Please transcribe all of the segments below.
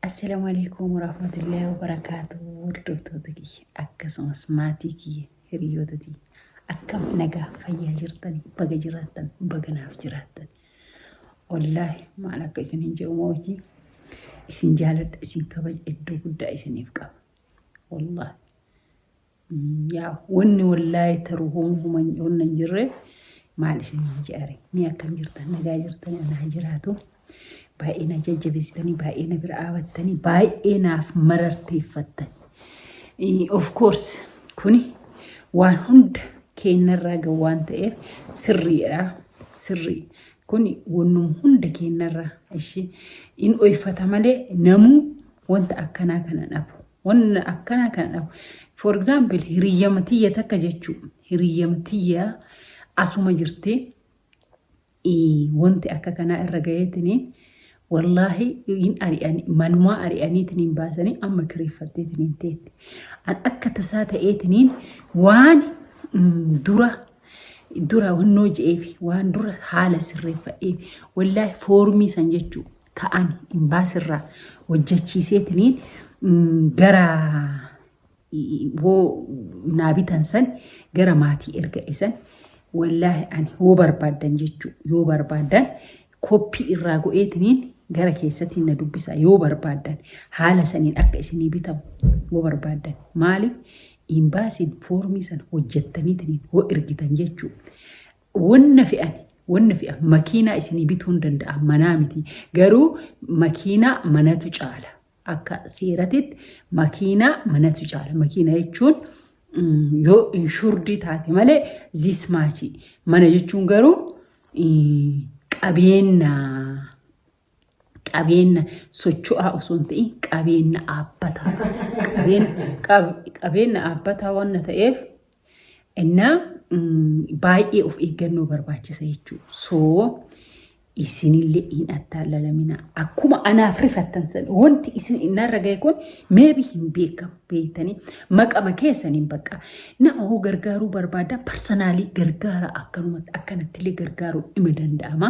Assalamu alaikum warahmatullahi wabarakatuh hordoftoota kiyya akkasumas maatii kiyya hiriyoota kiyya akkam nagaa fayyaa jirtani baga jiraattan baga naaf jiraattan wallaahi maal akka isin hin jedhu moojii isin jaaladha isin kabaja iddoo guddaa isiniif qaba wallaahi Yaa wanni wallaahi taru homa homa wanna hin jirre maal isin hin je'are mee akkam jirtan nagaa jirtan anaa jiraatu baay'ee na jajjabeessitanii baay'ee na bira dhaabattanii baay'ee naaf mararteeffattan Eh, of course kuni waan hunda keennarraa ga waan ta'eef sirriidha sirrii kuni wannum hunda keennarraa ishi in oyfata malee namuu wanta akkanaa kana dhabu Wanna akkanaa kana dhabu. For example, hiriyyama tiyya takka jechuu. Hiriyyama tiyya asuma jirti. Ii, Wanti akka kanaa irra gaheetini wallaahi hin ari'an manumaa ari'aniitiniin baasanii amma kireeffatteetiniin teetti. An akka tasaa ta'eetiniin waan mm, dura dura wannoo je'eefi waan dura haala sirreeffadheefi wallaahi foormii san jechuu ta'an imbaasirraa hojjechiiseetiniin gara hoo naa bitan san gara maatii erga isan wallaahi ani hoo barbaadan jechuu yoo barbaadan koppii irraa go'eetiniin gara keessatti na dubbisa yoo barbaadan haala saniin akka isinii bitamu yoo barbaadan maaliif imbaasiin foormii san hojjettaniitiniin hoo ergitan jechuu Wanna fe'an wanna fe'an makiinaa isinii bituun danda'a manaa miti garuu makiinaa manatu caala akka seeratitti makiinaa manatu caala makiina jechuun yoo inshurdii taate malee zis maachii mana jechuun garuu qabeennaa qabeenna socho'aa osoo hin ta'in qabeenna aabbataa qabeenna aabbataa wanna ta'eef innaa baay'ee of eeggannoo barbaachisa jechuudha. So isinillee hin attaallalaminaa. Akkuma anaaf rifattan san wanti isin innarra ga'e kun meebi hin beekamu beektanii maqama keessaniin bakka nama hoo gargaaruu barbaaddan parsanaalii gargaara akkanumatti akkanattillee gargaaruu ima danda'ama.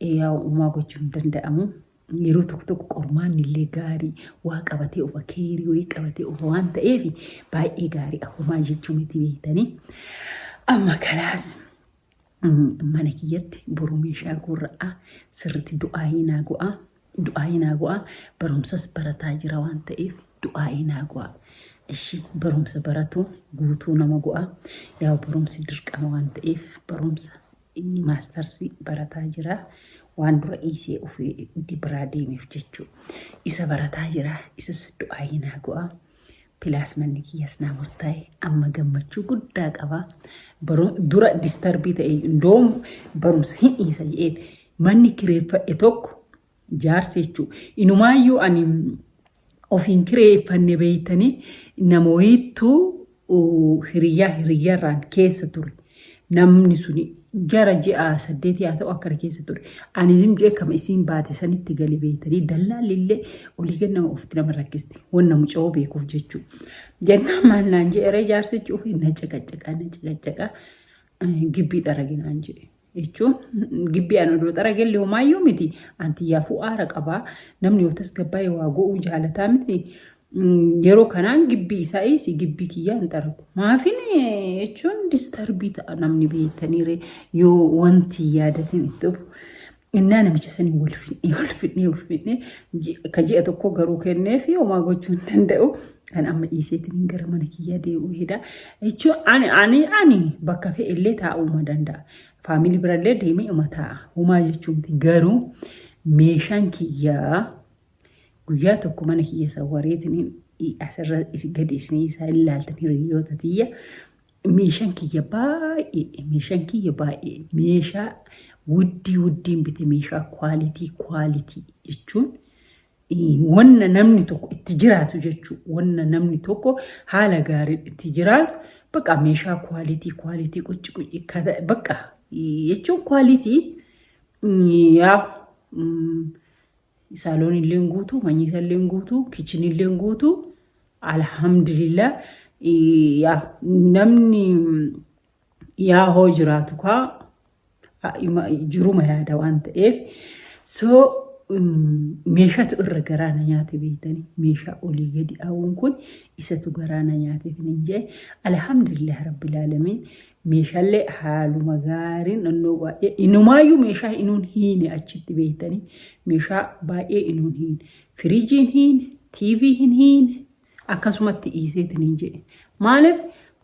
Yaa uumaa gochuun hin danda'amu. Yeroo tokko tokko qormaanni illee gaarii waa qabatee ofa keerii wayii qabatee ofa waan ta'eef baay'ee gaarii ahomaa jechuu miti beektanii. Amma kalaas mana kiyyatti boruu meeshaa gurra'aa sirriitti du'aayii naa go'aa. Du'aayii naa go'aa barumsas barataa jira waan ta'eef du'aayii naa go'aa. Ishi barumsa baratuun guutuu nama go'aa. Yaa barumsi dirqama waan ta'eef barumsa Inni maastarsii barataa jira. Waan dura dhiisee ofii itti biraa deemeef jechuu. Isa barataa jira. Isas du'aayii naa go'a. Pilaas manni kiyyas naa murtaa'e. Amma gammachuu guddaa qaba. Baru dura distarbii ta'e doom barumsa hin dhiisa jedheeti. Manni kireeffadhe tokko Jaarsi jechuun inumaayyuu ani ofiin kireeffanne beeytanii namoottu hiriyyaa hiriyyarraan keessa ture. Namni suni gara ji'a saddeetii haa ta'u akkana keessa ture. Ani isin jee kama isiin baate sanitti gali beeytanii dallaalli illee olii gad nama ofitti nama rakkisti. Wanna muca'oo beekuuf jechuu. Jennaan maal naan jee eree jaarsichi ofii na caqacaqaa na caqacaqaa gibbii xaraginaan jee. jechuun gibbii an odoo xaragelli homaayyuu miti an tiyyaafuu aara qabaa namni yoo tasgabbaa'e waa go'uu jaalataa miti yeroo kanaan gibbii isaa eessi gibbii kiyyaa hin xaragu maafin jechuun distarbii ta'a namni beektaniire yoo wanti yaadatin itti dhufu innaa namicha sanii wal fidhee wal fidhee wal fidhee ka ji'a tokko garuu kennee fi homaa gochuu hin danda'u Kan amma dhiiseetiin gara mana kiyyaa deebi'uu hedaa. Jechuun ani ani ani bakka fe'e illee taa'uu danda'a. Faamilii birallee deemee uma taa'a. Homaa jechuun miti. Garuu meeshaan kiyyaa guyyaa tokko mana kiyya sawwareetiin asirra isi- gadi isinii isaa ilaaltan hiriyoota tiyya meeshaan kiyya baay'ee meeshaan kiyya baay'ee meeshaa wuddii wuddiin bite meeshaa kwaalitii kwaalitii jechuun wanna namni tokko itti jiraatu jechuudha. Wanna namni tokko haala gaariin itti jiraatu bakka meeshaa kwaalitii kwaalitii qucci qucci bakka jechuun kwaalitii yaa saaloon illee guutuu manyisa illee guutuu kichin illee guutuu alhamdulillah yaa namni yaa hoo jiraatu kaa a- ima- jiruma yaada waan ta'eef so mm, meeshatu irra garaa na nyaate beektanii meeshaa olii gadi aawuun kun isatu garaa na nyaate isinin jee alhamdulillah rabbil aalamiin meeshaalee haaluma gaariin nannoo baay'ee inumaayyuu meeshaa inuun hiine achitti beektanii meeshaa baay'ee inuun hiine firiijiin hiine tiivii hin hiine akkasumatti dhiiseetiin hin jedhe maaliif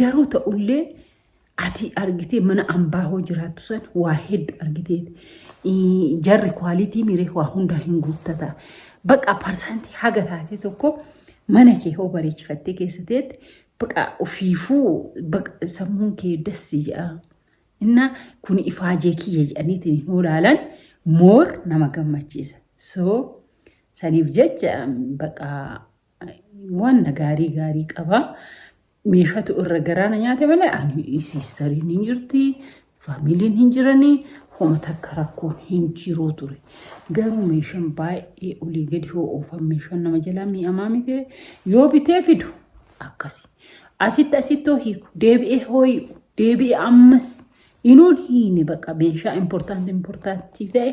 Garuu ta'ullee ati argitee mana ambaa hoo jiraattu san waa heddu argiteeti. Ii, Jarri kwaalitii miiree waa hundaa hin guuttata. Baqa parsantii haga taatee tokko mana kee hoo bareechifattee keessa teette baqa ofiifuu baqa sammuun kee dassi ja'a. Inna kun ifaajee kiyya jedhaniitiin hin olaalan moor nama gammachiisa. So saniif jecha baqa Wanna gaarii gaarii qaba. Meeshatu irra garaana nyaate malee ani siistariin hin jirti, faamiliin hin jirani, homa takka rakkoon hin jiruu ture. Garuu meeshaan baay'ee olii gadi hoo'oofan meeshaan nama jalaa mi'amaa miti yoo bitee fidu akkasi. Asitti asitti hiiku deebi'ee hoo'i'u deebi'ee ammas inuun hiine baqa meeshaa importanti importantii ta'e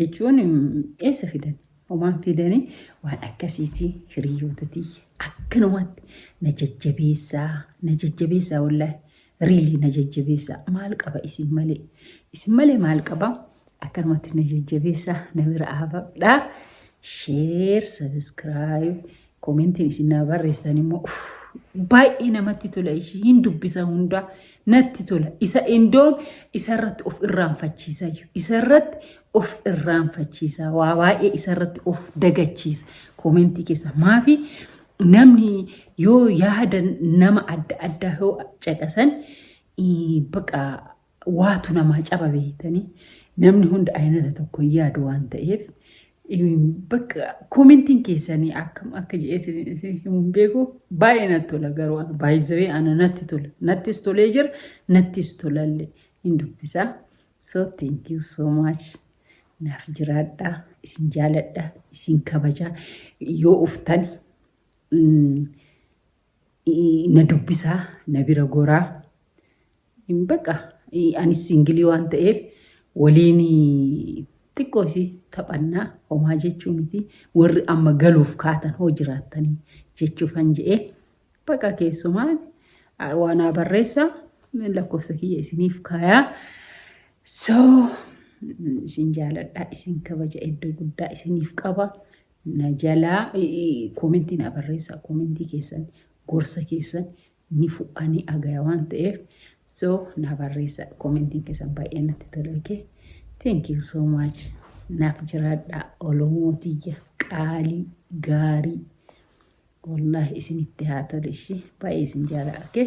jechuun eessa fidan homaan fidanii waan akkasiitii hiriyoota tiyya akkanumatti na jajjabeessaa na jajjabeessaa wallaahi riilii na jajjabeessaa maal qaba isin malee isin malee maal qaba akkanumatti na jajjabeessaa na bira aafadhaa sheer sabiskiraayib Komentiin isin naa barreessitan immoo uff, baay'ee namatti tola ishii hin dubbisa hundaa natti tola isa indoon isarratti of irraanfachiisa iyyuu isarratti of irraanfachiisa waa baay'ee isarratti of dagachiisa komentii keessa maafi namni yoo yaada nama adda addaa yoo caqasan ii, baqa waatu namaa caba beektanii namni hunda aynata tokko hin yaadu waan ta'eef in- bakka koomentiin keessanii akkam akka jedheetiin isin himuun beeku baay'ee natti tola garuu ana baay'isee ana natti tola nattis tolee jira nattis tolalle hin dubbisaa so thank you so much naaf jiraadhaa isin jaaladha isin kabajaa yoo uftani mm, na dubbisaa na bira goraa baqa anis singilii waan ta'eef waliin xiqqoo isii taphannaa homaa jechuu miti warri amma galuuf kaatan hoo jiraattanii jechuufan je'ee baqa keessumaa waanaa barreessaa lakkoofsa kiyya isiniif kaayaa so isin jaaladhaa isin kabaja iddoo guddaa isiniif qaba na jalaa koomentii na barreessaa koomentii keessan gorsa keessan ni fudhaa ni agaya waan ta'eef so na barreessaa koomentiin keessan baay'ee natti tola okay thank you so much naaf jiraadhaa olomoo tiyya qaalii gaarii wallaahi isinitti haa tolu ishii baay'ee isin jaalaa okay